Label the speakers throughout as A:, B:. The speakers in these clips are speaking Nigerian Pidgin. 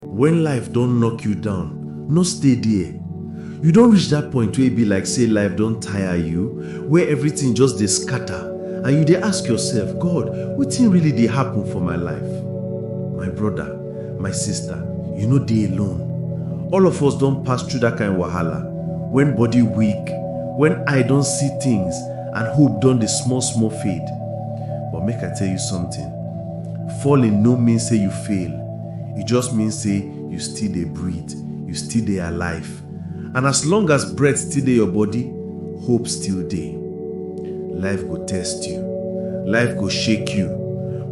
A: When life don knock you down, no stay there. You don reach that point wey e be like say life don tire you, where everything just dey scatter and you dey ask yourself, God, wetin really dey happen for my life? My brother, my sister, you no dey alone. All of us don pass through that kind wahala when body weak, when eye don see things and hope don dey small small fade. But make I tell you something, falling no mean say you fail. e just mean say you still dey breathe you still dey alive and as long as breath still dey your body hope still dey life go test you life go shake you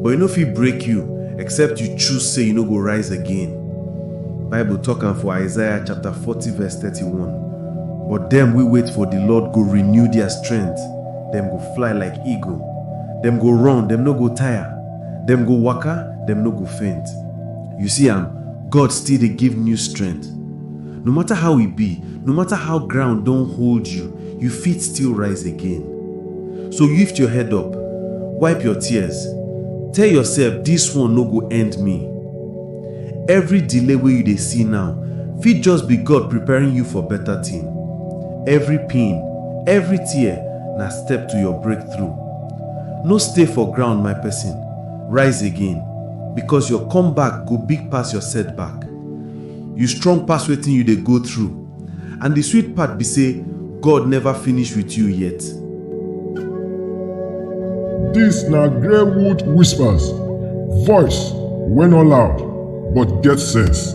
A: but e no fit break you except you choose say you no go rise again bible talk am for isaiah chapter 40 verse 31 but dem wey wait for di lord go renew dia strength dem go fly like eagle dem go run dem no go tire Dem go waka, dem no go faint. You see am, God still dey give new strength. No matter how e be, no matter how ground don hold you, you fit still rise again. So lift your head up, wipe your tears, tell yourself this one no go end me. Every delay wey you dey see now fit just be God preparing you for better thing. Every pain, every tear na step to your breakthrough. No stay for ground, my person, rise again, because your comeback go big pass your setback. You strong pass wetin you dey go through, and the sweet part be say God never finish with you yet. Dis na Greywood Whispers, voice wey no loud but get sense.